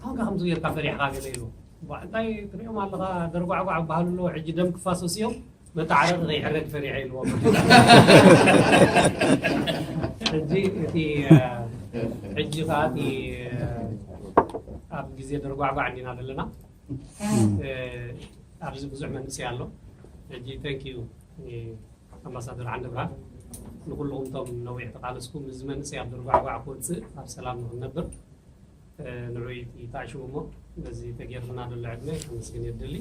ታንከ ከምዚ ገርካ ፈሪሕኻ ገለ ኢሉ እባ እንታይ ትሪኦም ኣለኻ ደርጓዕጓዕ ክበሃሉ ኣለዉ ሕጂ ደም ክፋሰሱ እዮም መተዓረቂ ከይሕረድ ፈሪሐ ኢልዎ ሕጂ እቲ ሕጂ ከዓ እቲ ኣብ ግዜ ደርጓዕጓዕ እንዲና ዘለና ኣብዚ ብዙሕ መንእሰይ ኣሎ ሕጂ ተንክ ዩ ኣምባሳደር ዓንደ ብርሃን ንኩልኹም እቶም ነዊሕ ተቃለስኩም እዚ መንእሰይ ኣብ ደርጓዕጓዕ ክወፅእ ኣብ ሰላም ንክነብር ንዑ ይተዓሽዉ እሞ ነዚ ተጌርልና ዘሎ ዕድመ ከመስግን የድሊ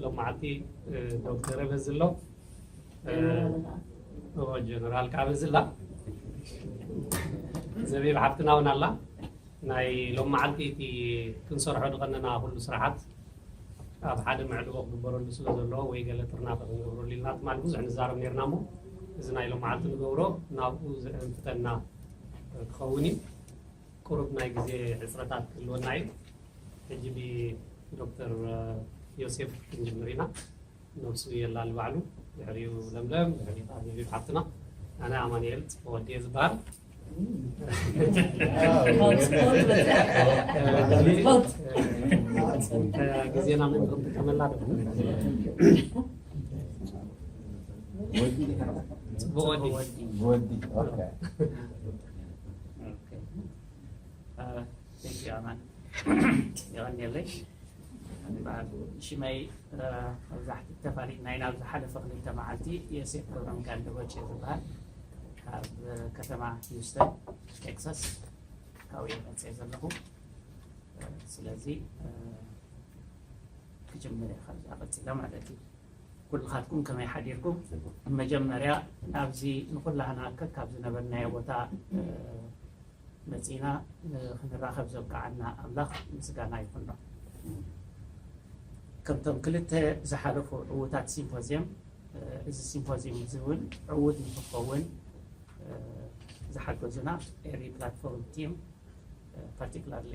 ሎም መዓልቲ ዶክተር በዚ ኣሎ ጀነራል ከዓ በዚ ኣላ ዘቢብ ሓፍትና እውን ኣላ ናይ ሎም መዓልቲ እቲ ክንሰርሖ ዝቐነና ኩሉ ስራሓት ኣብ ሓደ መዕልቦ ክግበረሉ ስለ ዘለዎ ወይ ገለ ጥርናፈ ክንገብረሉ ኢልና ትማሊ ብዙሕ ንዛረብ ነርና እሞ እዚ ናይ ሎም መዓልቲ ንገብሮ ናብኡ ዘእንፍተና ክኸውን እዩ። ቁሩብ ናይ ግዜ ሕጽረታት ክህልወና እዩ። ሕጂ ብዶክተር ዮሴፍ ክንጅምር ኢና። ነብሱ የላሊ ባዕሉ፣ ድሕሪኡ ለምለም፣ ድሕሪኡ ከኣ ቪቪ ሓፍትና፣ ኣነ ኣማኒኤል ጽፈወዲ እየ ዝበሃል። ግዜና ምእንቲ ክንጥቀመላ ዶ ብወዲ ብወዲ ኦኬ ኦኬ ቴንክ ዩ ኣማን የቀንየለይ በዓል ሽመይ መብዛሕቲ ተፋሊጥ ናይ ናብ ዝሓለፈ ክልተ መዓልቲ የሴፍ ገብረሚካኤል ደበጭ እዩ ዝበሃል ካብ ከተማ ሂውስተን ቴክሳስ ካብኡ እየ መፅአ ዘለኹ ስለዚ ክጅምር እየ ካብዛ ቀፂለ ማለት እዩ ኩልኻትኩም ከመይ ሓዲርኩም? ብመጀመርያ ናብዚ ንኹላህና ከካብ ዝነበርናዮ ቦታ መጺእና ንኽንራኸብ ዘብቅዓና ኣምላኽ ምስጋና ይኹኖ። ከምቶም ክልተ ዝሓለፉ ዕዉታት ሲምፖዝየም እዚ ሲምፖዝየም እዚ እውን ዕዉት ንኽኸውን ዝሓገዙና ኤሪ ፕላትፎርም ቲም ፓርቲክላርሊ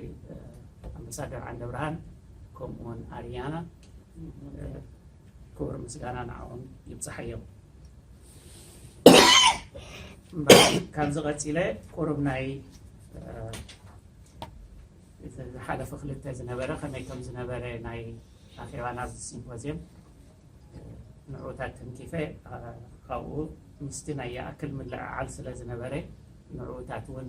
ኣምባሳደር ዓንደብርሃን ከምኡውን ኣርያና ክብሪ ምስጋና ንዓኦም ይብፅሓዮም። ካብዚ ቀፂለ ቁሩብ ናይ ዝሓለፈ ክልተ ዝነበረ ከመይ ከም ዝነበረ ናይ ኣኼባ ናብ ሲምፖዝየም ንዑታት ተንኪፈ ካብኡ ምስቲ ናይ ይኣክል ምልዕዓል ስለ ዝነበረ ንዑታት እውን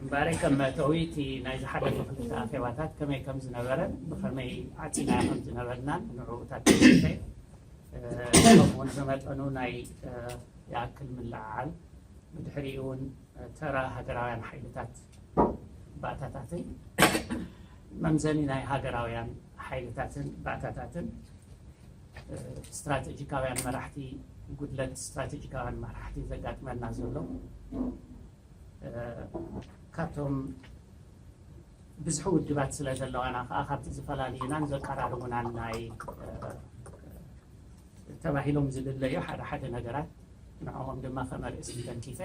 እምበኣር ከም መእተዊ እቲ ናይ ዝሓለፈ ክልተ ኣኼባታት ከመይ ከም ዝነበረን ብኸመይ ዓፂና ከም ዝነበርናን ንዕኡታት ተሰፈ ከምኡውን ብመጠኑ ናይ ይኣክል ምልዕዓል ብድሕሪኡ እውን ተራ ሃገራውያን ሓይልታት ባእታታትን መምዘኒ ናይ ሃገራውያን ሓይልታትን ባእታታትን ስትራቴጂካውያን መራሕቲ ጉድለት ስትራቴጂካውያን መራሕቲ ዘጋጥመና ዘሎ ካብቶም ብዝሒ ውድባት ስለ ዘለዋና ከዓ ካብቲ ዝፈላልዩናን ዘቀራርቡናን ናይ ተባሂሎም ዝልለዩ ሓደ ሓደ ነገራት ንዕኦም ድማ ከመርእስቲ ተንኪፈ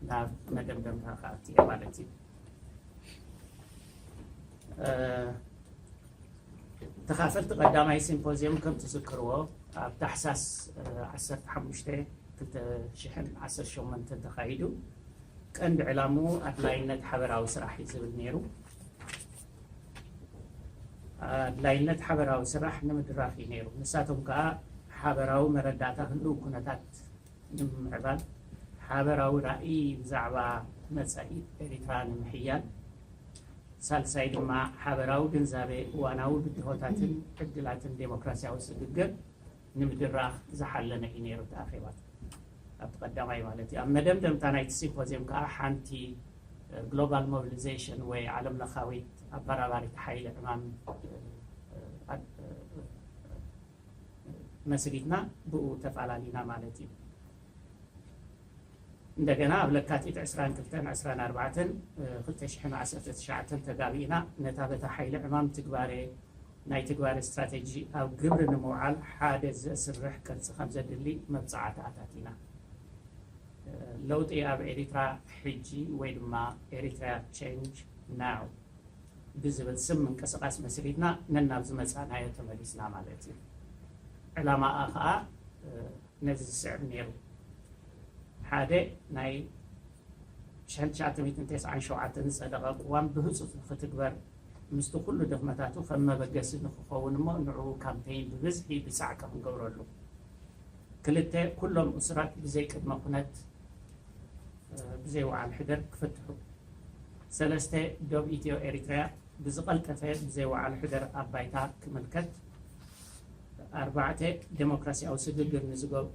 ናብ መደምደምታ ክኣቱ እየ ማለት እዩ። ተኻፈልቲ ቀዳማይ ሲምፖዝየም ከም ትዝክርዎ ኣብ ታሕሳስ 15 2018 ተኻይዱ ቀንዲ ዕላምኡ ኣድላይነት ሓበራዊ ስራሕ እዩ ዝብል ነይሩ። ኣድላይነት ሓበራዊ ስራሕ ንምድራኽ እዩ ነይሩ። ንሳቶም ከኣ ሓበራዊ መረዳእታ ህሉው ኩነታት ንምምዕባል፣ ሓበራዊ ራእይ ብዛዕባ መጻኢ ኤሪትራ ንምሕያል፣ ሳልሳይ ድማ ሓበራዊ ግንዛበ እዋናዊ ብድሆታትን ዕድላትን ደሞክራስያዊ ስግግር ንምድራኽ ዝሓለነ እዩ ነይሩ እቲ ኣኼባታት። ኣብቲ ቀዳማይ ማለት እዩ። ኣብ መደምደምታ ናይቲ ሲምፖዝየም ከኣ ሓንቲ ግሎባል ሞቢሊዘሽን ወይ ዓለምለኻዊት ኣበራባሪት ሓይሊ ዕማም መስሪትና ብኡ ተፋላሊና ማለት እዩ። እንደገና ኣብ ለካቲት ዕስራን ክልተን ዕስራን ኣርባዕተን ክልተ ሽሕን ዓሰርተ ትሽዓተን ተጋቢእና ነታ በታ ሓይሊ ዕማም ትግባሬ ናይ ትግባረ ስትራተጂ ኣብ ግብሪ ንምውዓል ሓደ ዘስርሕ ቅርፂ ከምዘድሊ መብፅዓቲ ኣታቲና። ለውጢ ኣብ ኤሪትራ ሕጂ ወይ ድማ Eritrea Change Now ብዝብል ስም ምንቅስቃስ መስሪትና ነናብ ዝመፃእናዮ ተመሊስና ማለት እዩ። ዕላማኣ ከዓ ነዚ ዝስዕብ ነይሩ። ሓደ ናይ ሽሕን ትሽዓተ ሚእትን ተስዓን ሸውዓተን ዝፀደቐ ቅዋም ብህፁፅ ንክትግበር ምስቲ ኩሉ ድኽመታቱ ከም መበገሲ ንክኸውን እሞ ንዕኡ ካምፔይን ብብዝሒ ብጻዕቂ ክንገብረሉ። ክልተ፣ ኩሎም እሱራት ብዘይ ቅድመ ኩነት ብዘይ ውዓል ሕደር ክፍትሑ። ሰለስተ፣ ዶብ ኢትዮ ኤሪትሪያ ብዝቐልጠፈ ብዘይ ውዓል ሕደር ኣብ ባይታ ክምልከት። ኣርባዕተ፣ ደሞክራሲያዊ ስግግር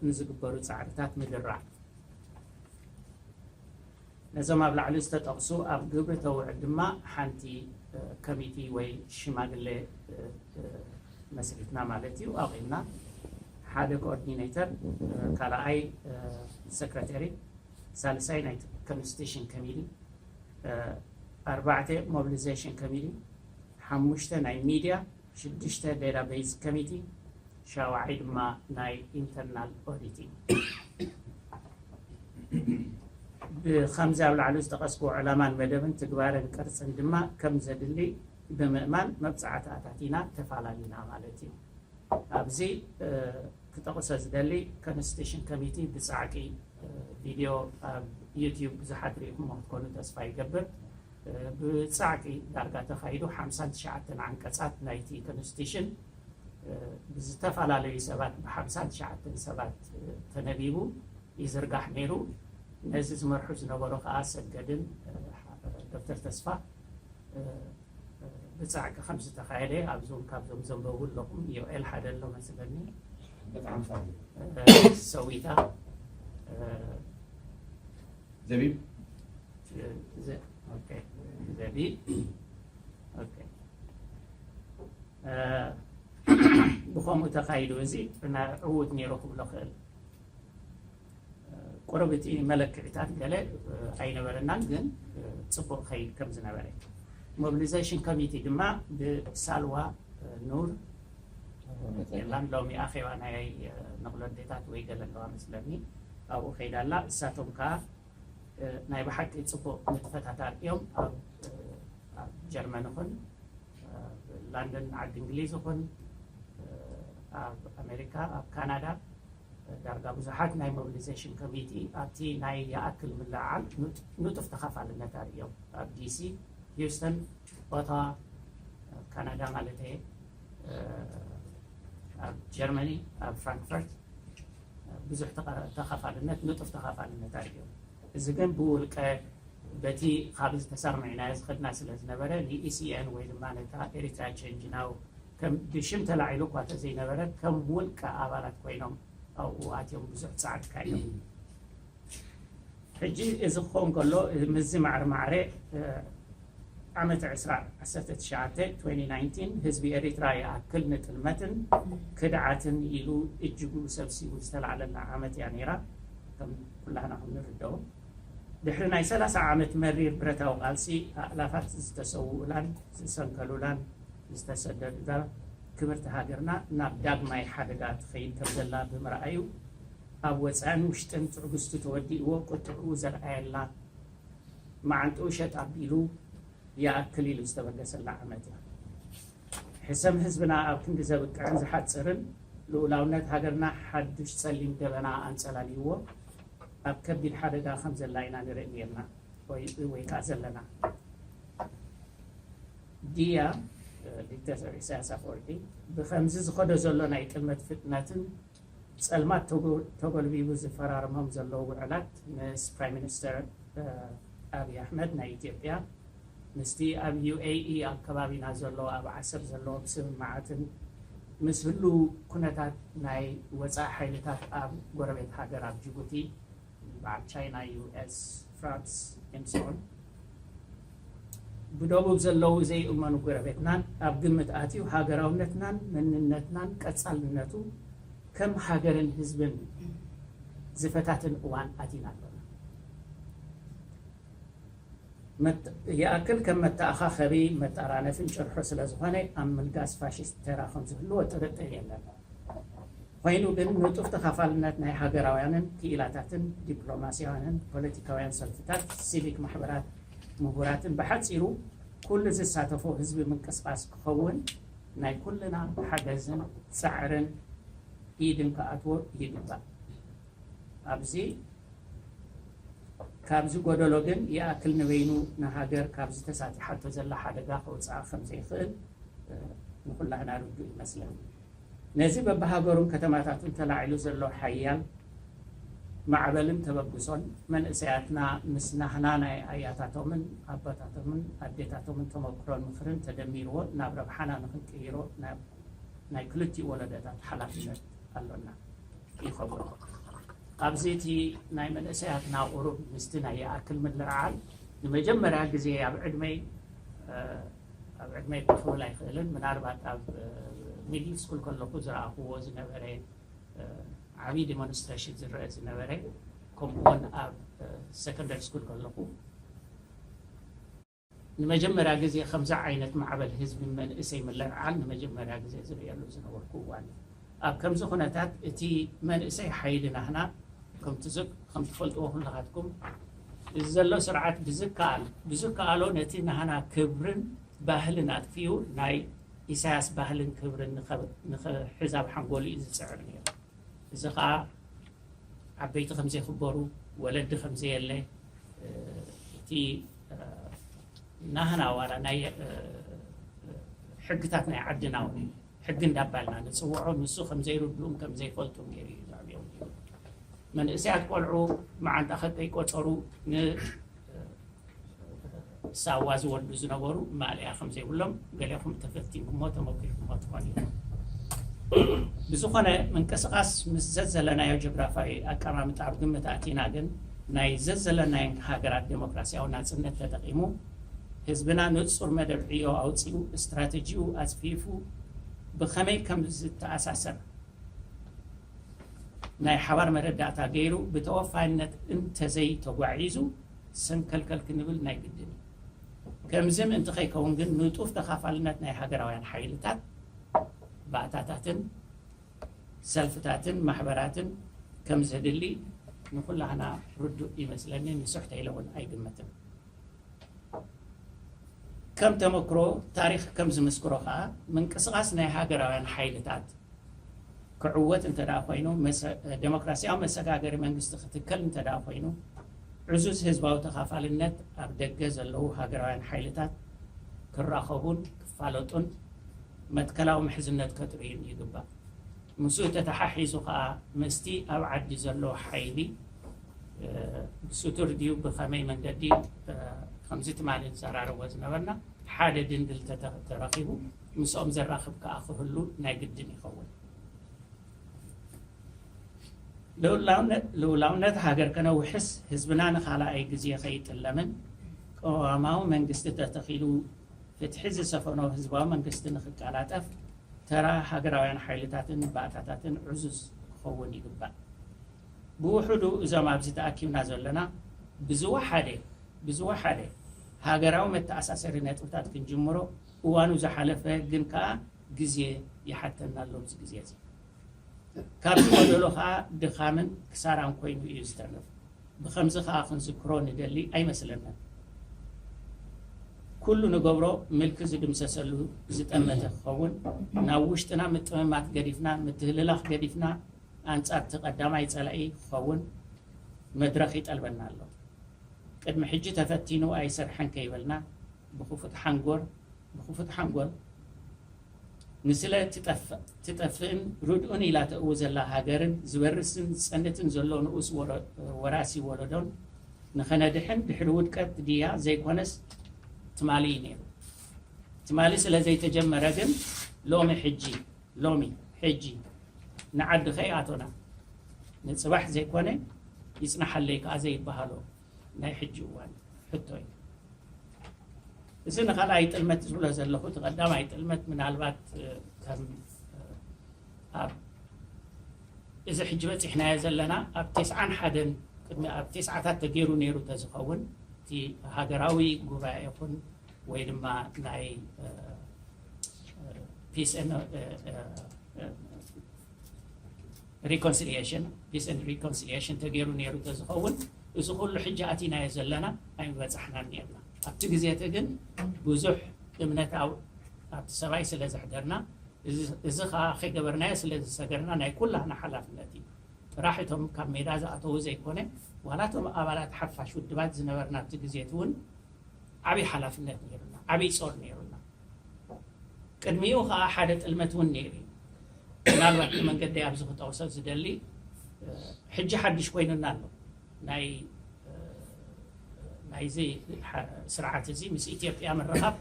ንዝግበሩ ጻዕርታት ምድራዕ። ነዞም ኣብ ላዕሊ ዝተጠቕሱ ኣብ ግብሪ ተውዕል ድማ ሓንቲ ከሚቲ ወይ ሽማግለ መስሪትና ማለት እዩ፣ ኣቚምና። ሓደ ኮኦርዲነይተር፣ ካልኣይ ሰክረተሪ፣ ሳልሳይ ናይቲ ከምስቴሽን ከሚቲ፣ ኣርባዕተ ሞብሊዘሽን ከሚቲ፣ ሓሙሽተ ናይ ሚድያ፣ ሽዱሽተ ዴታቤዝ ከሚቲ፣ ሻውዓይ ድማ ናይ ኢንተርናል ኦዲት እዩ። ብኸምዚ ኣብ ላዕሊ ዝጠቐስክዎ ዕላማን መደብን ትግባረን ቅርፅን ድማ ከም ዘድሊ ብምእማን መብፃዕቲ ኣታቲና ተፋላሊና ማለት እዩ። ኣብዚ ክጠቕሶ ዝደሊ ኮንስቲቱሽን ከሚቲ ብፃዕቂ ቪድዮ ኣብ ዩቲዩብ ብዙሓት ሪኢኹምዎ ክትኮኑ ተስፋ ይገብር። ብጻዕቂ ዳርጋ ተኻይዱ ሓምሳን ትሽዓተን ዓንቀጻት ናይቲ ኮንስቲቱሽን ብዝተፈላለዩ ሰባት ብሓምሳን ትሽዓተን ሰባት ተነቢቡ ይዝርጋሕ ነይሩ። ነዚ ዝመርሑ ዝነበሩ ከኣ ኣሰገድን ዶክተር ተስፋ ብጻዕቂ ከም ዝተኻየደ ኣብዞም ካብዞም ዘንበቡ ኣለኹም ዮኤል ሓደ ኣሎ መስለኒ ሰዊታ ዘቢብ ብከምኡ ተካይዱ እዚ ዕዉት ነይሩ ክብሎ ክእል ቁርብ እቲ መለክዒታት ገለ ኣይነበረናን ግን ፅቡቅ ከይድ ከም ዝነበረ ሞቢሊዘሽን ኮሚቲ ድማ ብሳልዋ ኑር የላን ሎሚ ኣኼባ ናይ ንቕሎ ኣዴታት ወይ ገለ ኣለዋ መስለኒ ኣብኡ ከይዳ ኣላ እሳቶም ከኣ ናይ ብሓቂ ጽቡቕ ንጥፈታት ኣርእዮም ኣብ ጀርመን ይኹን ላንደን ዓዲ እንግሊዝ ይኹን ኣብ ኣሜሪካ ኣብ ካናዳ ዳርጋ ብዙሓት ናይ ሞቢሊዜሽን ኮሚቲ ኣብቲ ናይ ይኣክል ምልዕዓል ንጡፍ ተኻፋልነት ኣርእዮም ኣብ ዲሲ ሂውስተን ጭቆታ ኣብ ካናዳ ማለተይ ኣብ ጀርመኒ ኣብ ፍራንክፈርት ብዙሕ ተኻፋልነት ንጡፍ ተኻፋልነት ኣዩ እዚ ግን ብውልቀ በቲ ካብ ዝተሰርምዕናዮ ዝኸድና ስለ ዝነበረ ንኢሲኤን ወይ ድማ ነታ ኤሪትራ ቸንጅ ናው ከም ብሽም ተላዒሉ እኳ ተዘይነበረ ከም ውልቀ ኣባላት ኮይኖም ኣብኡ ኣትዮም ብዙሕ ፃዕሪ ካዮም ሕጂ እዚ ክኸውን ከሎ ምስዚ ማዕረ ማዕረ ዓመተ ዕስራ ዓሰርተ ትሽዓተ፣ 2019፣ ህዝቢ ኤሪትራ ይኣክል ንጥልመትን ክድዓትን ኢሉ እጅጉ ሰብሲቡ ዝተላዕለላ ዓመት እያ ነይራ ከም ኩላህና ከም ንርደኦ። ድሕሪ ናይ ሰላሳ ዓመት መሪር ብረታዊ ቃልሲ ኣእላፋት ዝተሰውኡላን ዝሰንከሉላን ዝተሰደዱላ ክብርቲ ሃገርና ናብ ዳግማይ ሓደጋ ትኸይድ ከም ዘላ ብምርኣዩ ኣብ ወጻእን ውሽጥን ትዕግስቱ ተወዲእዎ ቁጥዕኡ ዘርኣየላ፣ መዓንጥኡ ሸጥ ኣቢሉ ይኣክል ኢሉ ዝተበገሰላ ዓመት እያ። ሕሰም ህዝብና ኣብ ክንዲ ዘብቅዕን ዝሓጽርን፣ ልኡላውነት ሃገርና ሓዱሽ ጸሊም ደበና ኣንጸላልይዎ ኣብ ከቢድ ሓደጋ ከም ዘላ ኢና ንርኢ ኔርና ወይ ከኣ ዘለና። ድያ ዲክተተር ኢሳያስ ኣፈወርቂ ብከምዚ ዝኸዶ ዘሎ ናይ ጥልመት ፍጥነትን፣ ጸልማት ተጎልቢቡ ዝፈራርሞም ዘሎ ውዕላት ምስ ፕራይም ሚኒስተር ኣብይ ኣሕመድ ናይ ኢትዮጵያ፣ ምስቲ ኣብ UAE ኣብ ከባቢና ዘሎ ኣብ ዓሰብ ዘለዎም ስምምዓትን ምስ ህሉው ኩነታት ናይ ወጻኢ ሓይልታት ኣብ ጎረቤት ሃገር ኣብ ጅቡቲ፣ በዓል ቻይና፣ US፣ ፍራንስ፣ ኤምስኦን፣ ብደቡብ ዘለዉ ዘይእመኑ ጎረቤትናን ኣብ ግምት ኣትዩ ሃገራውነትናን መንነትናን ቀጻልነቱ ከም ሃገርን ህዝብን ዝፈታትን እዋን ኣቲና ኣሎና። ይኣክል ከም መተኣኻኸቢ መጣራነፍን ጭርሖ ስለዝኾነ ኣብ ምልጋስ ፋሽስት ተራ ከምዝህልዎ ጥርጥር የለን። ኾይኑ ግን ንጡፍ ተኻፋልነት ናይ ሃገራውያንን ክኢላታትን፣ ዲፕሎማስያውያንን ፖለቲካውያን ሰልፍታት፣ ሲቪክ ማሕበራት፣ ምሁራትን ብሓጺሩ ኩሉ ዝሳተፎ ህዝቢ ምንቅስቓስ ክኸውን ናይ ኩልና ሓገዝን ጻዕርን ኢድን ክኣትዎ ይግባእ። ኣብዚ ካብዚ ጎደሎ ግን ይኣክል ንበይኑ ንሃገር ካብዚ ተሳጢሓቶ ዘላ ሓደጋ ከውጽኣ ከም ዘይክእል ንኹላህና ርዱእ ይመስለኒ። ነዚ በብሃገሩን ከተማታቱን ተላዒሉ ዘሎ ሓያል ማዕበልን ተበግሶን መንእሰያትና ምስ ናህና ናይ ኣያታቶምን ኣቦታቶምን ኣዴታቶምን ተመኩሮን ምኽርን ተደሚርዎ ናብ ረብሓና ንኽንቅይሮ ናይ ክልቲኡ ወለዶታት ሓላፍነት ኣሎና። ይኸብሮ። ኣብዚ እቲ ናይ መንእሰያትና ቁሩብ ምስቲ ናይ ይኣክል ምልዕዓል ንመጀመርያ ግዜ ኣብ ዕድመይ ኣብ ዕድመይ እኳ ክብል ኣይክእልን ምናልባት ኣብ ሚድል ስኩል ከለኹ ዝረኣኹዎ ዝነበረ ዓብዪ ዲሞንስትሬሽን ዝረአ ዝነበረ ከምኡውን ኣብ ሰከንደሪ ስኩል ከለኹ ንመጀመርያ ግዜ ከምዚ ዓይነት ማዕበል ህዝቢ መንእሰይ ምልዕዓል ንመጀመርያ ግዜ ዝርእየሉ ዝነበርኩ እዋን እዩ። ኣብ ከምዚ ኩነታት እቲ መንእሰይ ሓይሊ ናህና ከምቲ ከምትፈልጥዎ ኩላኻትኩም እዚ ዘሎ ስርዓት ብዝከኣል ብዝከኣሎ ነቲ ናህና ክብርን ባህልን ኣጥፊኡ ናይ ኢሳያስ ባህልን ክብርን ንክሕዝ ኣብ ሓንጎሉ እዩ ዝጽዕር ነይሩ። እዚ ከኣ ዓበይቲ ከምዘይክበሩ ወለዲ ከምዘየለ እቲ ናህና ዋላ ናይ ሕግታት ናይ ዓድና ውን ሕጊ እንዳባልና ንፅውዖ ንሱ ከምዘይርድኡን ከምዘይፈልጡን ገይሩ እዩ ዘዕብዮም መንእሰያት ቆልዑ መዓንጣ ከጠይ ቆፀሩ ሳዋ ዝወልዱ ዝነበሩ ማልያ ከምዘይብሎም ገሌኹም ተፈቲንኩሞ ተመኪርኩሞ ትኾን እዩ ብዝኾነ ምንቅስቃስ ምስ ዘዘለናዮ ጆግራፋዊ ኣቀማምጣ ኣብ ግምት ኣቲና ግን ናይ ዘዘለናየን ሃገራት ደሞክራሲያዊ ናጽነት ተጠቂሙ፣ ህዝብና ንጹር መደብ ዕዮ ኣውጺኡ፣ እስትራተጂኡ ኣጽፊፉ፣ ብኸመይ ከም ዝተኣሳሰር ናይ ሓባር መረዳእታ ገይሩ ብተወፋይነት እንተዘይ ተጓዒዙ፣ ሰንከልከል ክንብል ናይ ግድን እዩ። ከምዚ ምእንቲ ከይከውን ግን ንጡፍ ተኻፋልነት ናይ ሃገራውያን ሓይልታት፣ ባእታታትን ሰልፍታትን ማሕበራትን ከምዘድሊ ንኹላህና ርዱእ ይመስለኒ፣ ንሱሕተ ኢለ እውን ኣይግምትን። ከም ተመክሮ ታሪኽ ከም ዝምስክሮ ከኣ ምንቅስቓስ ናይ ሃገራውያን ሓይልታት ክዕወት እንተደኣ ኮይኑ፣ ደሞክራሲያዊ መሰጋገሪ መንግስቲ ክትከል እንተደኣ ኮይኑ፣ ዕዙዝ ህዝባዊ ተኻፋልነት ኣብ ደገ ዘለዉ ሃገራውያን ሓይልታት ክራኸቡን ክፋለጡን፣ መትከላዊ ምሕዝነት ከትርእዩ ይግባእ። ምስኡ ተተሓሒዙ ከኣ ምስቲ ኣብ ዓዲ ዘሎ ሓይሊ ብስቱር ድዩ ብኸመይ መንገዲ ከምዚ ትማሊ ንዘራረቦ ዝነበርና ሓደ ድንድል ተረኺቡ ምስኦም ዘራኽብ ከኣ ክህሉ ናይ ግድን ይኸውን። ልኡላውነት ሃገር ከነውሕስ ህዝብና ንኻልኣይ ግዜ ከይጥለምን ቅዋማዊ መንግስቲ ተተኺሉ ፍትሒ ዝሰፈኖ ህዝባዊ መንግስቲ ንክቀላጠፍ ተራ ሃገራውያን ሓይልታትን ባእታታትን ዕዙዝ ክኸውን ይግባእ። ብውሑዱ እዞም ኣብዚ ተኣኪብና ዘሎና ብዝወሓደ ብዝወሓደ ሃገራዊ መተኣሳሰሪ ነጥብታት ክንጅምሮ እዋኑ ዝሓለፈ ግን ከኣ ግዜ ይሓተና ኣሎ ኣብዚ ግዜ'ዚ። ካብዚ ጎደሎ ከኣ ድኻምን ክሳራን ኮይኑ ኢዩ ዝተርፍ። ብኸምዚ ከኣ ክንዝክሮ ንደሊ ኣይመስለንን። ኩሉ ንገብሮ ምልኪ ዝድምሰሰሉ ዝጠመተ ክኸውን፣ ናብ ውሽጥና ምጥምማት ገዲፍና፣ ምትህልላኽ ገዲፍና ኣንጻርቲ ቀዳማይ ጸላኢ ክኸውን መድረኽ ይጠልበና ኣሎ። ቅድሚ ሕጂ ተፈቲኑ ኣይሰርሐን ከይበልና ብክፉት ሓንጎር ብክፉት ሓንጎል ንስለ ትጠፍእ ትጠፍእን ርድኡን ኢላ ተእዊ ዘላ ሃገርን ዝበርስን ዝጸንትን ዘሎ ንኡስ ወራሲ ወለዶን ንኸነድሕን ድሕሪ ውድቀት ድያ ዘይኮነስ ትማሊ እዩ ነይሩ። ትማሊ ስለ ዘይተጀመረ ግን ሎሚ ሕጂ ሎሚ ሕጂ ንዓዲ ከይኣቶና ንጽባሕ ዘይኮነ ይጽናሓለይ ከኣ ዘይበሃሎ ናይ ሕጂ እዋን ሕቶ እዩ። እዚ ንካልኣይ ጥልመት ዝብሎ ዘለኹ እቲ ቀዳማይ ጥልመት ምናልባት ከም ኣብ እዚ ሕጂ በፂሕናዮ ዘለና ኣብ ቴስዓን ሓደን ቅድሚ ኣብ ቴስዓታት ተገይሩ ነይሩ ተዝኸውን እቲ ሃገራዊ ጉባኤ ይኹን ወይ ድማ ናይ ፒስ ሪኮንስልየሽን፣ ፒስ ኤንድ ሪኮንስልየሽን፣ ተገይሩ ነይሩ ተዝኸውን እዚ ኩሉ ሕጂ ኣቲናዮ ዘለና ኣይምበጻሕናን ነይርና። ኣብቲ ግዜ እቲ ግን ብዙሕ እምነት ኣብቲ ሰብኣይ ስለ ዘሕደርና እዚ ከኣ ከይገበርናዮ ስለ ዝሰገርና ናይ ኩላህና ሓላፍነት እዩ። ጥራሕ እቶም ካብ ሜዳ ዝኣተዉ ዘይኮነ ዋላ እቶም ኣባላት ሓፋሽ ውድባት ዝነበርና ኣብቲ ግዜ እቲ እውን ዓቢ ሓላፍነት ነይሩና፣ ዓቢ ጾር ነይሩና። ቅድሚኡ ከኣ ሓደ ጥልመት እውን ነይሩ እዩ። ምናልባት ንመንገደይ ኣብዚ ክጠቕሶ ዝደሊ ሕጂ ሓድሽ ኮይኑና ኣሎ ናይ ናይዚ ስርዓት እዚ ምስ ኢትዮጵያ ምርኻብ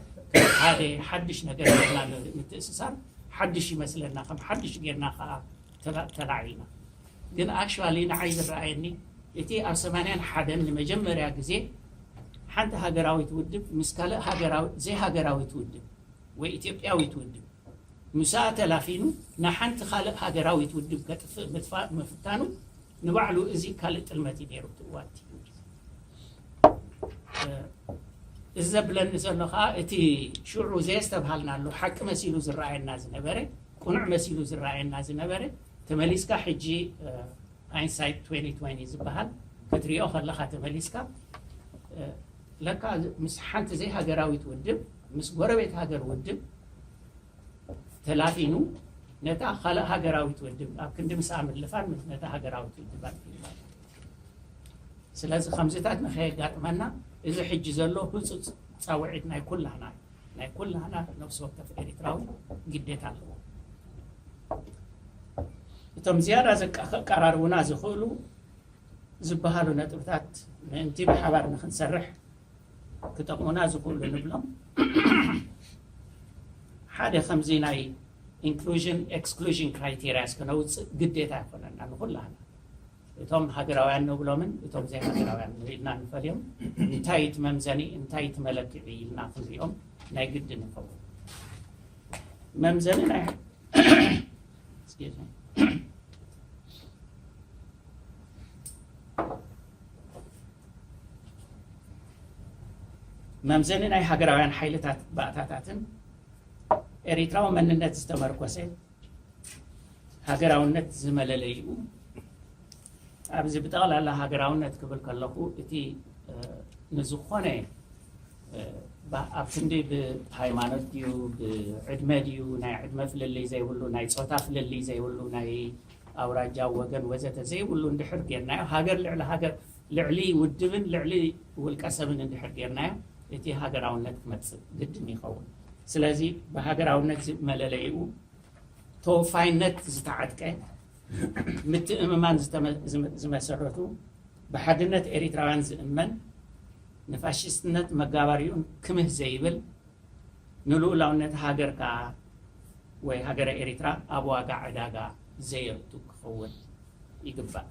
ሓደ ሓድሽ ነገር ጌርና ምትእስሳር ሓድሽ ይመስለና ከም ሓድሽ ጌርና ከኣ ተላዒልና ግን ኣክቹዋሊ ንዓይ ዝረኣየኒ እቲ ኣብ ሰማንያን ሓደን ንመጀመርያ ግዜ ሓንቲ ሃገራዊት ውድብ ምስ ካልእ ሃገራዊ ዘይሃገራዊት ውድብ ወይ ኢትዮጵያዊት ውድብ ምሳኣ ተላፊኑ ንሓንቲ ካልእ ሃገራዊት ውድብ ከጥፍእ ምትፋእ ምፍታኑ ንባዕሉ እዚ ካልእ ጥልመት እዩ ነይሩ እቲ እዋንቲ እዚ ዘብለኒ ዘሎ ከዓ እቲ ሽዑ ዘየስተብሃልናሉ ሓቂ መሲሉ ዝረኣየና ዝነበረ ቁኑዕ መሲሉ ዝረኣየና ዝነበረ ተመሊስካ ሕጂ ሃይንሳይት ትዌንቲ ትዌንቲ ዝበሃል ክትሪኦ ከለኻ ተመሊስካ ለካ ምስ ሓንቲ ዘይሃገራዊት ውድብ ምስ ጎረቤት ሃገር ውድብ ተላፊኑ ነታ ካልእ ሃገራዊት ውድብ ኣብ ክንዲ ምስኣ ምልፋን ነታ ሃገራዊት ውድብ ኣልፊንዋ ስለዚ ከምዚታት ንኸየጋጥመና እዚ ሕጂ ዘሎ ህፁፅ ፃውዒት ናይ ኩላህና እዩ ናይ ኩላህና ነፍሲ ወከፍ ኤሪትራዊ ግዴታ ኣለዎ። እቶም ዝያዳ ዘቃራርቡና ዝኽእሉ ዝበሃሉ ነጥብታት ምእንቲ ብሓባር ንኽንሰርሕ ክጠቕሙና ዝኽእሉ ንብሎም ሓደ ከምዚ ናይ ኢንክሉዥን ኤክስክሉዥን ክራይቴርያስ ክነውጽእ ግዴታ ይኾነና ንኹላህና። እቶም ሃገራውያን ንብሎምን እቶም ዘይሃገራውያን ኢልና ንፈልዮም እንታይ እዩ እቲ መምዘኒ እንታይ እቲ መለክዒ ኢልና ክንሪኦም ናይ ግዲ ንኸውን መምዘኒ ናይ Excuse me. መምዘኒ ናይ ሃገራውያን ሓይልታት ባእታታትን ኤሪትራዊ መንነት ዝተመርኮሰ ሃገራውነት ዝመለለይኡ ኣብዚ ብጠቕላላ ሃገራውነት ክብል ከለኹ እቲ ንዝኾነ ኣብ ክንዲ ብሃይማኖት ድዩ ብዕድመ ድዩ ናይ ዕድመ ፍልልይ ዘይብሉ ናይ ፆታ ፍልልይ ዘይብሉ ናይ ኣውራጃ ወገን ወዘተ ዘይብሉ እንድሕር ጌርናዮ ሃገር ልዕሊ ሃገር ልዕሊ ውድብን ልዕሊ ውልቀ ሰብን እንድሕር ጌርናዮ እቲ ሃገራውነት ክመፅእ ግድን ይኸውን ስለዚ ብሃገራውነት መለለይኡ ተወፋይነት ዝተዓጥቀ ምትእምማን ዝመሰረቱ ብሓድነት ኤሪትራውያን ዝእመን ንፋሽስትነት መጋባሪኡን ክምህ ዘይብል ንልኡላውነት ሃገርካ ወይ ሃገረ ኤሪትራ ኣብ ዋጋ ዕዳጋ ዘየቱ ክኸውን ይግባእ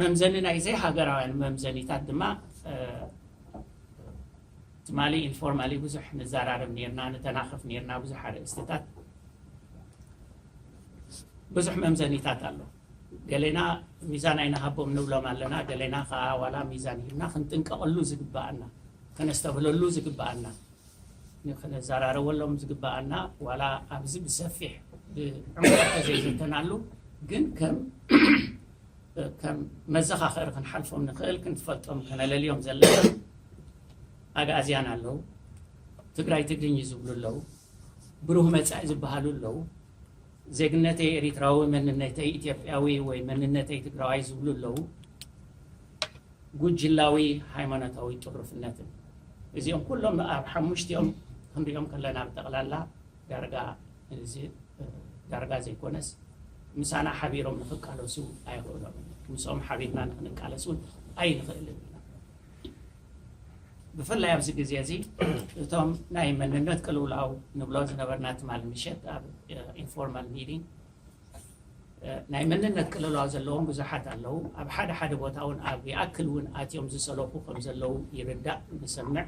መምዘኒ ናይ ዘይሃገራውያን መምዘኒታት ድማ ትማሊ ኢንፎርማሊ ብዙሕ ንዘራረብ ኔርና፣ ንተናኸፍ ኔርና ብዙሕ ኣርእስትታት፣ ብዙሕ መምዘኒታት ኣሎ። ገሌና ሚዛን ኣይንሃቦም ንብሎም ኣለና፣ ገሌና ከኣ ዋላ ሚዛን ሂብና ክንጥንቀቐሉ ዝግበኣና፣ ከነስተብህለሉ ዝግበኣና፣ ከነዘራረበሎም ዝግበኣና ዋላ ኣብዚ ብሰፊሕ ብዕምቆት ተዘይዘተናሉ ግን ከም ከም መዘኻኸሪ ክንሓልፎም ንኽእል ክንፈልጦም ከነለልዮም ዘለና ኣግኣዝያን ኣለው። ትግራይ ትግርኚ ዝብሉ ኣለው። ብሩህ መፃኢ ዝበሃሉ ኣለው። ዜግነተይ ኤሪትራዊ መንነተይ ኢትዮጵያዊ ወይ መንነተይ ትግራዋይ ዝብሉ ኣለው። ጉጅላዊ ሃይማኖታዊ ጥሩፍነትን እዚኦም ኩሎም ኣብ ሓሙሽቲኦም ክንሪኦም ከለና ብጠቕላላ ዳርጋ እዚ ዳርጋ ዘይኮነስ ምሳና ሓቢሮም ንኽቃለሱ ኣየኽእሎምን እዩ። ምስኦም ሓቢርና ንኽንቃለስ እውን ኣይንኽእልን ኢና። ብፍላይ ኣብዚ ግዜ እዚ እቶም ናይ መንነት ቅልውላው ንብሎ ዝነበርና ትማል ምሸት ኣብ ኢንፎርማል ሚቲንግ ናይ መንነት ቅልውላው ዘለዎም ብዙሓት ኣለዉ። ኣብ ሓደ ሓደ ቦታ እውን ኣብ ይኣክል እውን ኣትዮም ዝሰለኹ ከም ዘለዉ ይርዳእ ንሰምዕ።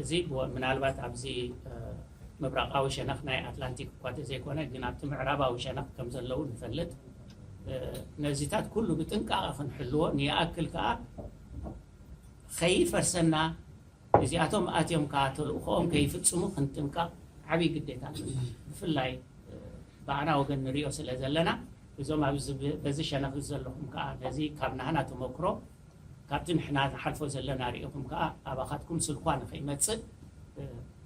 እዚ ምናልባት ኣብዚ ምብራቓዊ ሸነኽ ናይ ኣትላንቲክ እኳ ተዘይኮነ ግን ኣብቲ ምዕራባዊ ሸነኽ ከም ዘለዉ ንፈልጥ ነዚታት ኩሉ ብጥንቃቐ ክንሕልዎ ንይኣክል ከዓ ከይፈርሰና እዚኣቶም ኣትዮም ከዓ ተልእኾኦም ከይፍፅሙ ክንጥንቀቕ ዓብይ ግዴታ ኣለና ብፍላይ ብኣና ወገን ንሪኦ ስለ ዘለና እዞም ኣብዚ በዚ ሸነኽ ዘለኹም ከዓ ነዚ ካብ ናህና ተመክሮ ካብቲ ንሕና ንሓልፎ ዘለና ርኢኹም ከኣ ኣባኻትኩም ስልኳ ንኸይመጽእ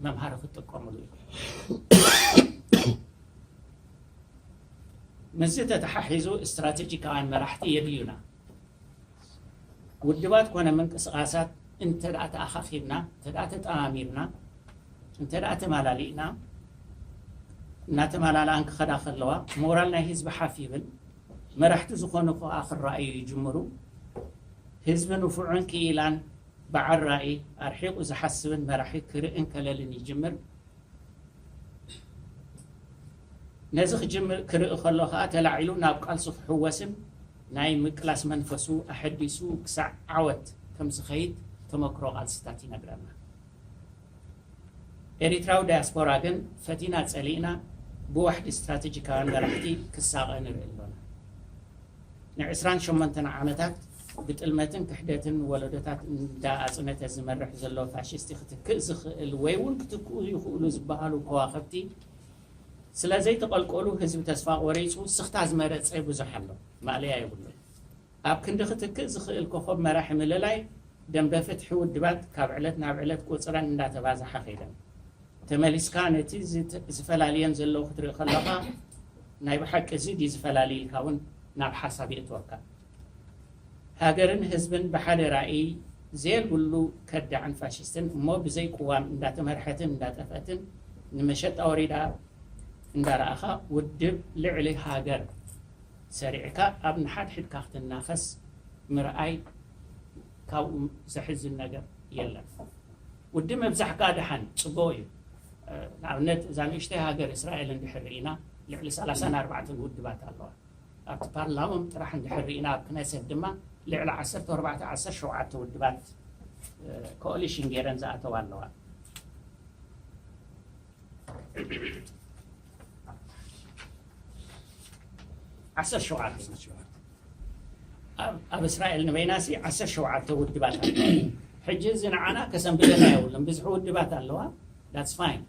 መምሃሪ ክትጥቀምሉ ኢኹም። ምስዚ ተተሓሒዙ ስትራተጂካውያን መራሕቲ የድልዩና። ውድባት ኮነ ምንቅስቓሳት እንተደኣ ተኣኻኺብና፣ እንተደኣ ተጠማሚርና፣ እንተደኣ ተማላሊእና እናተማላልኣን ክኸዳ ከለዋ ሞራል ናይ ህዝቢ ሓፍ ይብል፣ መራሕቲ ዝኾኑ ከኣ ክረኣዩ ይጅምሩ። ህዝቢ ንፉዕን ክኢላን በዓል ራኢ፣ ኣርሒቑ ዝሓስብን መራሒ ክርእን ከለልን ይጅምር። ነዚ ክጅምር ክርኢ ከሎ ከኣ ተላዒሉ ናብ ቃልሱ ክሕወስን ናይ ምቅላስ መንፈሱ ኣሐዲሱ ክሳዕ ዓወት ከምዝኸይድ ተመክሮ ቃልስታት ይነግረና። ኤሪትራዊ ዳያስፖራ ግን ፈቲና ጸሊእና ብዋሕዲ ስትራተጂካውያን መራሕቲ ክሳቐ ንርኢ ኣሎና። ንዕስራን ሸሞንተን ዓመታት ብጥልመትን ክሕደትን ወለዶታት እንዳ ኣጽነተ ዝመርሕ ዘሎ ፋሽስቲ ክትክእ ዝኽእል ወይ ውን ክትክኡ ይኽእሉ ዝበሃሉ ከዋኽብቲ ስለ ዘይተቐልቀሉ ህዝቢ ተስፋ ቆሪጹ ስኽታ ዝመረጸ ብዙሕ ኣሎ። ማእለያ የብሉን። ኣብ ክንዲ ክትክእ ዝኽእል ኮኾብ መራሒ ምልላይ፣ ደምበ ፍትሒ ውድባት ካብ ዕለት ናብ ዕለት ቁጽረን እንዳተባዝሓ ከይደን። ተመሊስካ ነቲ ዝፈላልየን ዘለዉ ክትርኢ ከሎኻ፣ ናይ ብሓቂ እዚ ድዩ ዝፈላሊ ኢልካ ውን ናብ ሓሳብ የእትወካ። ሃገርን ህዝብን ብሓደ ራእይ ዘየልብሉ ከዳዕን ፋሽስትን እሞ ብዘይ ቅዋም እንዳተመርሐትን እንዳጠፍአትን ንመሸጣ ወሪዳ እንዳረኣኻ ውድብ ልዕሊ ሃገር፣ ሰሪዕካ ኣብ ንሓድሕድካ ክትናኸስ ምርኣይ ካብኡ ዘሕዝን ነገር የለን። ውዲ ምብዛሕ ከኣ ደሓን ጽቡቕ እዩ። ንኣብነት እዛ ንእሽተይ ሃገር እስራኤል እንድሕር ርኢና ልዕሊ ሰላሳን ኣርባዕተን ውድባት ኣለዋ። ኣብቲ ፓርላሞም ጥራሕ እንድሕር ርኢና ኣብ ክነሰት ድማ ልዕሊ ዓሰርተ ኣርባዕተ ዓሰርተ ሸውዓተ ውድባት ኮኦሊሽን ገይረን ዝኣተዋ ኣለዋ። ዓሰርተ ሸውዓተ ዓሰርተ ሸውዓተ ኣብ ኣብ እስራኤል ንበይናሲ ዓሰርተ ሸውዓተ ውድባት ኣለዋ ሕጂ እዚ ንዓና ከሰንብደና የብሉን ብዝሒ ውድባት ኣለዋ ዳትስ ፋይን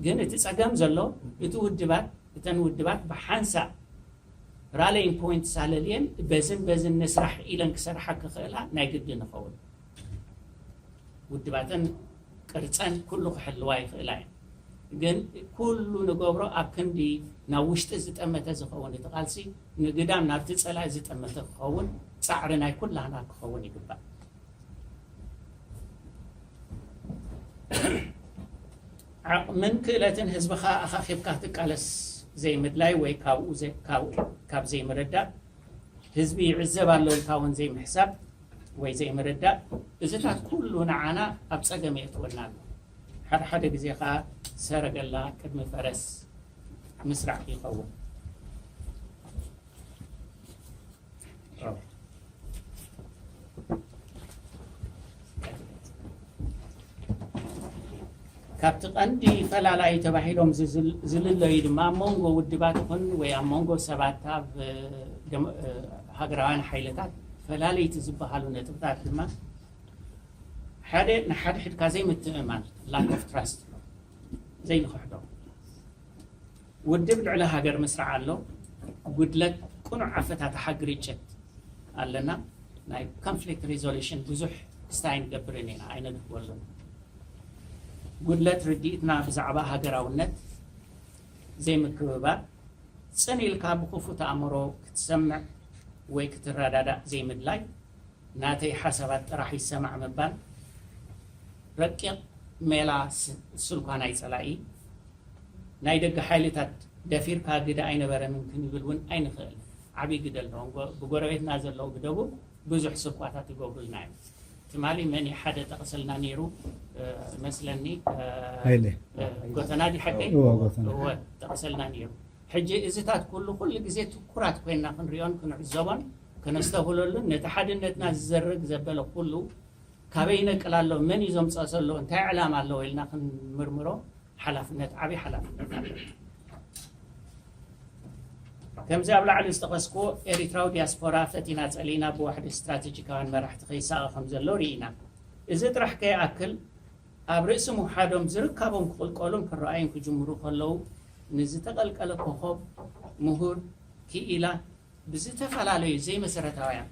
ግን እቲ ፀገም ዘሎ እቲ ውድባት እተን ውድባት ብሓንሳእ ራለይን ፖይንት ሳለልየን በዝን በዝን ንስራሕ ኢለን ክሰርሓ ክኽእላ ናይ ግድን ይኸውን ውድባተን ቅርፀን ኩሉ ክሕልዋ ይኽእላ እየን። ግን ኩሉ ንገብሮ ኣብ ክንዲ ናብ ውሽጢ ዝጠመተ ዝኸውን እቲ ቃልሲ ንግዳም ናብቲ ፀላኢ ዝጠመተ ክኸውን ፃዕሪ ናይ ኩላህና ክኸውን ይግባእ። ዓቕምን ክእለትን ህዝብኻ ኣኻኺብካ ትቃለስ ዘይምድላይ ወይ ካብኡ ካብ ዘይምርዳእ ህዝቢ ይዕዘብ ኣሎ ኢልካ እውን ዘይምሕሳብ ወይ ዘይምርዳእ እዚታት ኩሉ ንዓና ኣብ ጸገም የእትወና ኣሎ። ሓደ ሓደ ግዜ ከኣ ሰረገላ ቅድሚ ፈረስ ምስራዕ ይኸውን። ካብቲ ቀንዲ ፈላላዪ ተባሂሎም ዝልለዩ ድማ ኣብ መንጎ ውድባት ይኹን ወይ ኣብ መንጎ ሰባት ካብ ሃገራውያን ሓይልታት ፈላልይቲ ዝበሃሉ ነጥብታት ድማ ሓደ ንሓድሕድካ ዘይምትእምማን ላክ ኦፍ ትራስት ዘይንኽሕዶ ውድብ ልዕሊ ሃገር ምስራዕ ኣሎ ጉድለት ቅኑዕ ኣፈታትሓ ግርጭት ኣለና ናይ ኮንፍሊክት ሪዞሉሽን ብዙሕ ክስታይ ኣይንገብርን ኢና ኣይነድህበሉን ጉድለት ርድኢትና ብዛዕባ ሃገራውነት፣ ዘይምክብባር፣ ጽን ኢልካ ብክፉት ኣእምሮ ክትሰምዕ ወይ ክትረዳዳእ ዘይምድላይ፣ ናተይ ሓሳባት ጥራሕ ይሰማዕ ምባል፣ ረቂቕ ሜላ ስልኳን ኣይጸላኢ ናይ ደገ ሓይልታት ደፊርካ ግደ ኣይነበረንን ክንብል ውን ኣይንኽእልን። ዓቢ ግደ ኣለዎም ብጎረቤትና ዘለዉ ብደቡብ። ብዙሕ ስብካታት ይገብሩልና እዮም ትማሊ መን እዩ ሓደ ጠቅስልና ነይሩ መስለኒ ሃይለ ጎተና ዲ ሓቀይ እወ ጎተና እወ ጠቅሰልና ነይሩ ሕጂ እዚታት ኩሉ ኩሉ ግዜ ትኩራት ኮይና ክንሪኦን ክንዕዘቦን ከነስተብህለሉን ነቲ ሓድነትና ዝዘርግ ዘበለ ኩሉ ካበይ ይነቅል ኣሎ መን እዩ ዘምፀኦ ዘሎ እንታይ ዕላማ ኣለዎ ኢልና ክንምርምሮ ሓላፍነት ዓቢ ሓላፍነት ኣለና። ከምዚ ኣብ ላዕሊ ዝጠቐስኩዎ ኤሪትራዊ ዲያስፖራ ፈቲና ጸሊእና ብዋሕዲ ስትራተጂካውያን መራሕቲ ከይሳቐ ከም ዘሎ ርኢና። እዚ ጥራሕ ከይኣክል ኣብ ርእሲ ምውሓዶም ዝርካቦም ክቕልቀሉን ክረኣዩን ክጅምሩ ከለዉ ንዝተቐልቀለ ኮኾብ ምሁር ክኢላ ብዝተፈላለዩ ዘይመሰረታውያን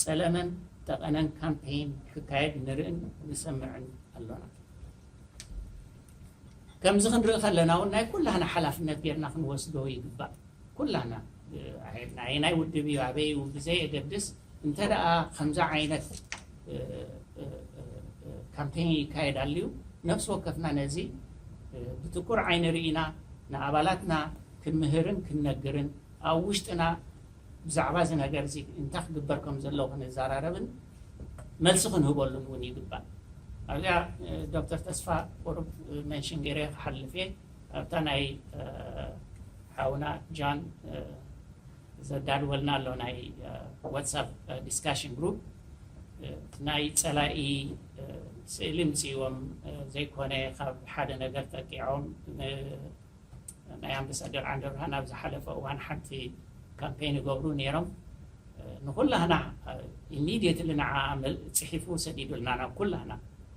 ጸለመን ጠቐነን ካምፔይን ክካየድ ንርእን ንሰምዕን ኣሎና። ከምዚ ክንርኢ ከለና እውን ናይ ኩላህና ሓላፍነት ጌርና ክንወስዶ ይግባእ። ኩላህና ኣየናይ ውድብ እዩ ኣበይ እዩ ብዘየገድስ እንተ ደኣ ከምዚ ዓይነት ካምፔን ይካየድ ኣልዩ ነፍሲ ወከፍና ነዚ ብትኩር ዓይኒ ርኢና ንኣባላትና ክንምህርን ክንነግርን ኣብ ውሽጥና ብዛዕባ እዚ ነገር እዚ እንታይ ክግበር ከም ዘለዎ ክንዘራረብን መልሲ ክንህበሉን እውን ይግባእ። ኣብዚኣ ዶክተር ተስፋ ቁሩብ መንሽን ገይረዮ ክሓልፍ እየ። ኣብታ ናይ ሓውና ጃን ዘዳልወልና ኣሎ ናይ ዋትሳፕ ዲስካሽን ግሩፕ ናይ ፀላኢ ስእሊ ምፅእዎም ዘይኮነ ካብ ሓደ ነገር ጠቂዖም ናይ ኣምበሳደር ዓንደብርሃን ኣብ ዝሓለፈ እዋን ሓንቲ ካምፔን ይገብሩ ነይሮም ንኩላህና ኢሚድየትሊ ንዓ ፅሒፉ ሰዲዱልና ናብ ኩላህና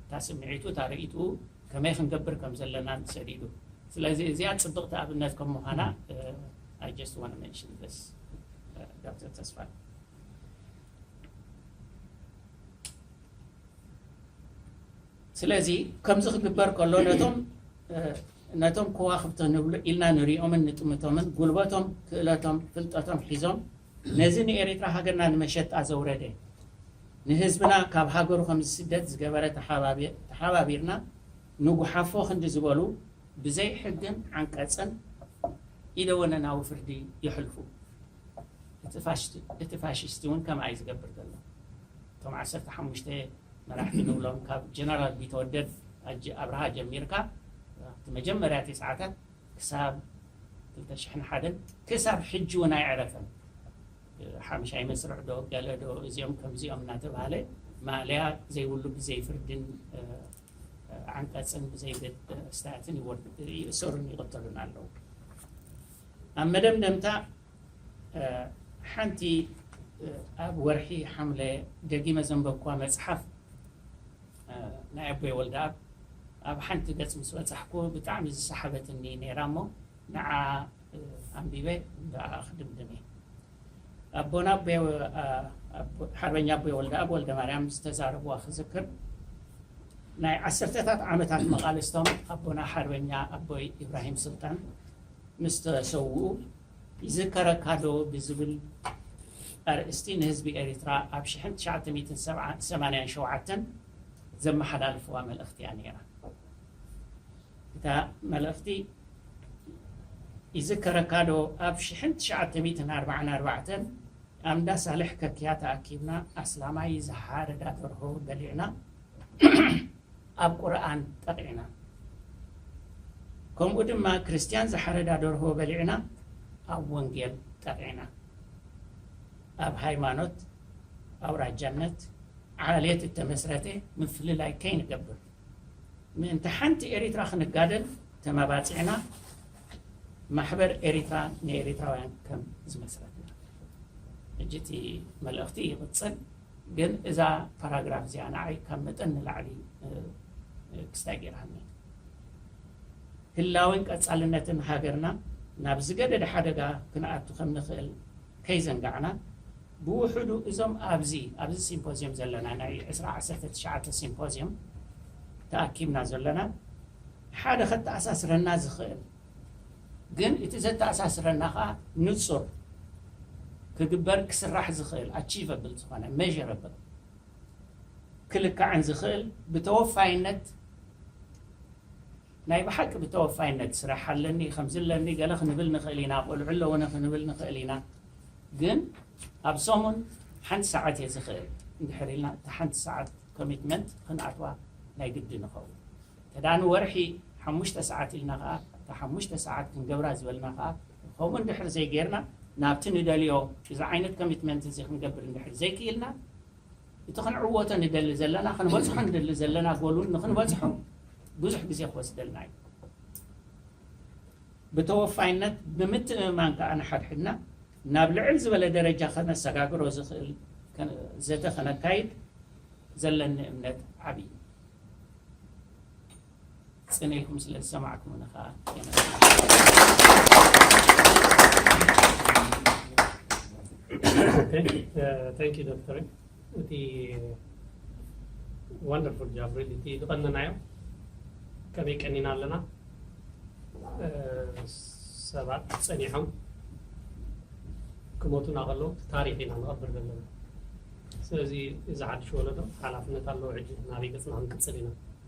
እታ ስምዒቱ እታ ርእይትኡ ከመይ ክንገብር ከም ዘለና ሰዲዱ ስለዚ እዚኣ ፅብቕቲ ኣብነት ከም ምዃና ኣይ ጀስት ዋን መንሽን ደስ ዶክተር ተስፋ ስለዚ ከምዚ ክግበር ከሎ ነቶም ነቶም ኮዋኽብቲ ንብሎ ኢልና ንሪኦምን ንጥምቶምን ጉልበቶም ክእለቶም ፍልጠቶም ሒዞም ነዚ ንኤሪትራ ሃገርና ንመሸጣ ዘውረደ ንህዝብና ካብ ሃገሩ ከም ዝስደድ ዝገበረ ተሓባቢርና ንጉሓፎ ክንዲ ዝበሉ ብዘይ ሕግን ዓንቀጽን ኢደወነናዊ ፍርዲ የሕልፉ። እቲ ፋሽስት እውን ከምኣ እዩ ዝገብር ዘሎ። እቶም ዓሰርተ ሓሙሽተ መራሕቲ ንብሎም ካብ ጀነራል ቢተወደድ ኣብርሃ ጀሚርካ እቲ መጀመርያ እቲ ሰዓታት ክሳብ ክልተ ሽሕን ሓደን ክሳብ ሕጂ እውን ኣይዕረፈን። ሓምሻይ መስርዕ ዶ ገለ ዶ እዚኦም ከምዚኦም እናተባህለ ማእለያ ዘይብሉ ብዘይ ፍርድን ዓንቀፅን ብዘይገድድ ኣስታትን ይእሰሩን ይቕተሉን ኣለዉ። ኣብ መደምደምታ ሓንቲ ኣብ ወርሒ ሓምለ ደጊመ ዘንበብኳ መፅሓፍ ናይ ኣቦይ ወልደኣብ ኣብ ሓንቲ ገፅ ምስ በፃሕኩ ብጣዕሚ ዝሰሓበትኒ ነይራ እሞ ንዓ ኣንቢበ ክድምድም እየ። ኣቦና ሓርበኛ ኣቦይ ወልደኣብ ወልደማርያም ዝተዛረብዋ ክዝክር ናይ ዓሰርተታት ዓመታት መቓልስቶም ኣቦና ሓርበኛ ኣቦይ ኢብራሂም ስልጣን ምስ ተሰውኡ ይዝከረካ ዶ ብዝብል ኣርእስቲ ንህዝቢ ኤሪትራ ኣብ ሽሕን ትሽዓተ ሚእትን ሰማንያን ሸውዓተን ዘመሓላልፍዋ መልእኽቲ እያ ነይራ። እታ መልእኽቲ ይዝከረካ ዶ ኣብ ሽሕን ትሽዓተ ሚእትን ኣርብዓን ኣርባዕተን ኣብ እንዳ ሳልሕ ከክያ ተኣኪብና ኣስላማይ ዝሓረዳ ደርሆ በሊዕና ኣብ ቁርኣን ጠቂዕና ከምኡ ድማ ክርስትያን ዝሓረዳ ደርሆ በሊዕና ኣብ ወንጌል ጠቂዕና ኣብ ሃይማኖት ኣውራጃነት ዓሌት እተመስረተ ምፍልላይ ከይንገብር ምእንቲ ሓንቲ ኤሪትራ ክንጋደል ተማባጺዕና ማሕበር ኤሪትራ ንኤሪትራውያን ከም ዝመስረትና። ሕጂ እቲ መልእኽቲ ይቕጽል ግን እዛ ፓራግራፍ እዚኣ ንዓይ ካብ መጠን ንላዕሊ ክስታይ ገይራኒ። ህላወን ቀጻልነትን ሃገርና ናብ ዝገደደ ሓደጋ ክንኣቱ ከም ንኽእል ከይዘንጋዕና ብውሑዱ እዞም ኣብዚ ኣብዚ ሲምፖዝየም ዘለና ናይ ዕስራ ዓሰርተ ትሽዓተ ሲምፖዝየም ተኣኪብና ዘሎና ሓደ ከተኣሳስረና ዝኽእል ግን እቲ ዘተኣሳስረና ከኣ ንጹር ክግበር ክስራሕ ዝኽእል ኣቺቨብል ዝኾነ ሜዠረብል ክልካዕን ዝኽእል ብተወፋይነት ናይ ብሓቂ ብተወፋይነት ስራሕ ኣለኒ ከምዚ ኣለኒ ገለ ክንብል ንኽእል ኢና ቆልዑ ኣለዉኒ ክንብል ንኽእል ኢና ግን ኣብ ሰሙን ሓንቲ ሰዓት እየ ዝኽእል እንድሕር ኢልና እታ ሓንቲ ሰዓት ኮሚትመንት ክንኣትዋ ናይ ግዲ ንኸውን እንተ ንወርሒ ሓሙሽተ ሰዓት ኢልና ከዓ እታ ሓሙሽተ ሰዓት ክንገብራ ዝበልና ከዓ ከምኡ እንድሕር ዘይጌርና ናብቲ ንደልዮ እዚ ዓይነት ኮሚትመንት እዚ ክንገብር እንድሕር ዘይክኢልና እቲ ክንዕወቶ ንደሊ ዘለና፣ ክንበጽሖ ንደሊ ዘለና ጎል ንክንበጽሖ ብዙሕ ግዜ ክወስደልና እዩ። ብተወፋይነት ብምትእምማን ከኣ ንሓድሕድና ናብ ልዕል ዝበለ ደረጃ ከነሰጋግሮ ዝኽእል ዘተ ከነካይድ ዘለኒ እምነት ዓቢ እዩ። ጽን ኢልኩም ስለ ዝሰማዕኩምኒ ከኣ ታንክ ዩ ዶክተር እቲ ወንደርፉል ጃብ ሪሊ እቲ ዝቐነናዮ ከመይ ቀኒና ኣለና ሰባት ጸኒሖም ክሞቱና ከለዉ ታሪክ ኢና ንቐብር ዘለና ስለዚ እዚ ሓድሽ ወለዶ ሓላፍነት ኣለዎ ሕጂ ናበይ ገጽና ክንቅጽል ኢና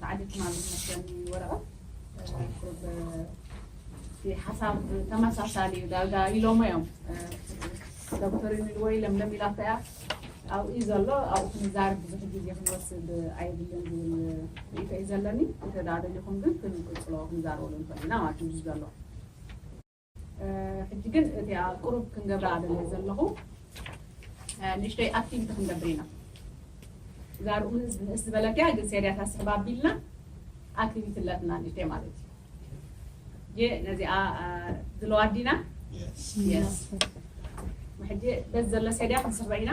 ብጣዕሚ ሕማም ዝመስለኒ ወረቐት እቲ ሓሳብ ተመሳሳሊ እዩ ዳርጋ ኢሎሞ እዮም ዶክተር ይንልዎ ኢሎም ሎም ኢላቶ እያ ኣብኡ እዩ ዘሎ ኣብኡ ክንዛርብ ብዙሕ ግዜ ክንወስድ ኣይብልን ዝብል ርእቶ እዩ ዘለኒ እንተ ደኣ ደሊኹም ግን ክንቅፅሎ ክንዛረበሉ ንኽእል ኢና ማለት እዩ ዘሎ ሕጂ ግን እቲኣ ቁሩብ ክንገብራ ደልየ ዘለኹ ንእሽተይ ኣክቲቪቲ ክንገብር ኢና እዛ ርኡ ንእስ ዝበለት እያ ግን ሴርያታት ስሕብ ኣቢልና ኣክቲቪቲ ኣለትና ንእሽተይ ማለት እዩ የ ነዚኣ ዝለዋ ኣዲና የስ ሕጂ በዚ ዘሎ ሴድያ ክንስርዕ ኢና